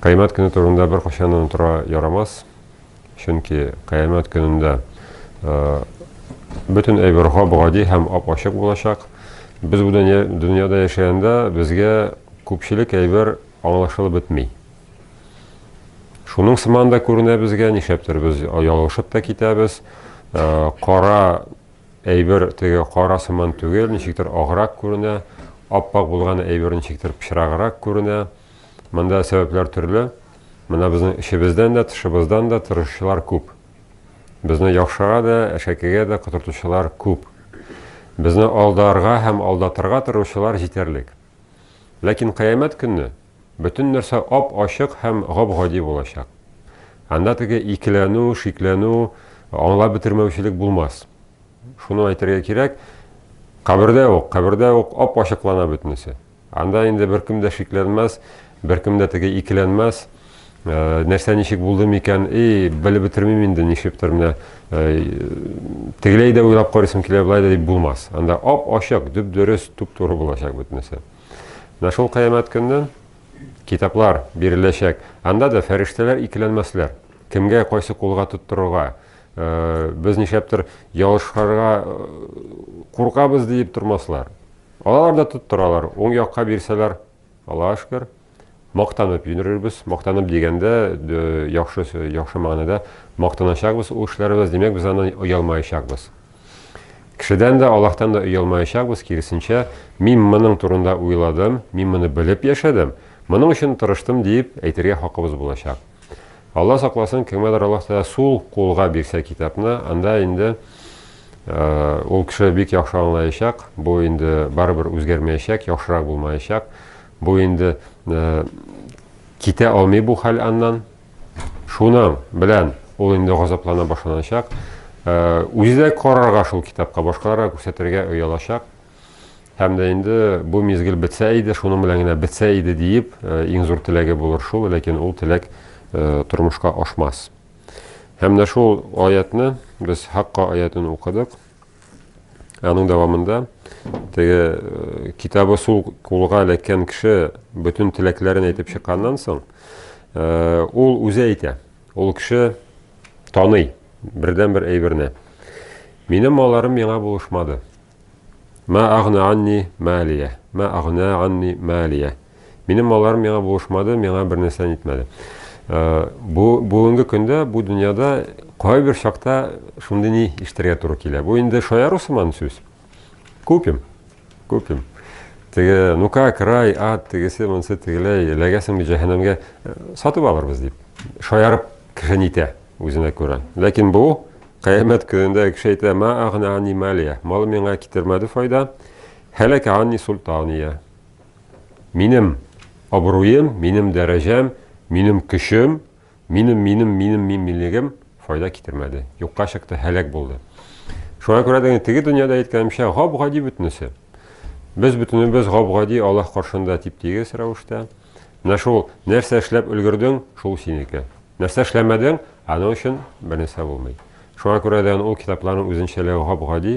Кыямәт көне турында беркайчан да онытырга ярамас. Чөнки кыямәт көнендә бөтен әйбер гап-гади һәм ап-ачык булачак. Без бу дөньяда яшәгәндә безгә күпчелек әйбер аңлашылып бетми. Шуның сыман да күренә безгә, нишләптер без ялгышып та китәбез. Кара Әйбер теге кара сыман түгел, ничектер аграк күренә, ап-ак булган әйбер ничектер пычраграк күренә. Монда сәбәпләр төрле. Менә безнең эчебездән дә, тышыбыздан да тырышучылар күп. Безне яхшыга да, әшәкегә дә котыртучылар күп. Безне алдарга һәм алдатырга тырышучылар җитәрлек. Ләкин кыямәт көнне Бөтен нәрсә ап-ачык һәм гап-гади булачак. Анда теге икеләнү, шикләнү, аңлап бетермәүчелек булмас. Шуны әйтергә кирәк, кабердә үк, кабердә үк ап-ачыклана бөтенесе. Анда инде беркем дә шикләнмәс, беркем дә теге икеләнмәс. Нәрсә ничек булды микән? И, белеп бетермим инде, нишлиптер менә тегеләй дә уйлап карыйсым килә, болай да дип булмас. Анда ап-ачык, дөп-дөрес, туп-туры булачак бөтенесе. Менә шул кыямәт көнне китаплар биреләчәк. Анда да фәрештәләр икеләнмәсләр. Кемгә кайсы кулга тоттырырга, э, без нишәптер ялышырга э, куркабыз диеп тормаслар. Алар да тоттыралар. Уң якка бирсәләр, Аллаһ шөкер, мактанып юнерербез. Мактанып дигәндә, яхшы, яхшы мәгънәдә мактаначакбыз ул эшләребез, димәк, без аннан оялмаячакбыз. Кешедән дә, Аллаһтан да оялмаячакбыз, киресенчә, мин моның турында уйладым, мин моны белеп яшәдем, моның өчен тырыштым дип әйтергә хакыбыз булачак. Алла сакласын, кемгәдер Аллаһ Тәгалә сул кулга бирсә китапны, анда инде э, ул кеше бик яхшы аңлаячак, бу инде барыбер үзгәрмәячәк, яхшырак булмаячак. Бу инде китә алмый бу хәл аннан. Шуның белән ул инде газаплана башланачак. Үзе дә карарга шул китапка, башкаларга күрсәтергә оялачак. Һәм дә инде бу мизгел бетсә иде, шуның белән генә бетсә иде диеп, иң зур теләге булыр шул, ләкин ул теләк тормышка ашмас. Һәм дә шул аятьне без Хакка аятен укыдык. Аның дәвамында теге э, китабы сул кулга эләккән кеше бөтен теләкләрен әйтеп чыкканнан соң, э, ул үзе әйтә. Ул кеше таный бердән-бер әйберне. Минем маларым миңа булышмады. Ма агна анни малия, ма агна анни малия. Минем маларым миңа булышмады, миңа бер нәрсә нитмәде. Бу бүгенге көндә бу дөньяда кайбер чакта шундый ни иштергә туры килә. Бу инде шаяру сыман сүз. Купим. Купим. Теге, ну как, рай, ад, тегесе, монсы, тегеләй, эләгәсең бит җәһәннәмгә, сатып алырбыз дип. Шаярып кеше нитә үзенә күрә. Ләкин бу кыямәт көнендә кеше әйтә, ма агна ани малия. Малы миңа китермәде файда. Һәләк ани султания. Минем абруем, минем дәрәҗәм, минем көчем, минем, минем, минем, мин, минлегем файда китермәде. Юкка чыкты, һәлак булды. Шуңа күрә дә теге дөньяда әйткәнемчә, гап-гади бөтенесе. Без бөтенебез гап-гади Аллаһ каршында тип-тигез рәвештә. Менә шул нәрсә эшләп өлгердең, шул синеке. Нәрсә эшләмәдең, аның өчен бернәрсә булмый. Шуңа күрә дә ул китапларның үзенчәлеге гап-гади.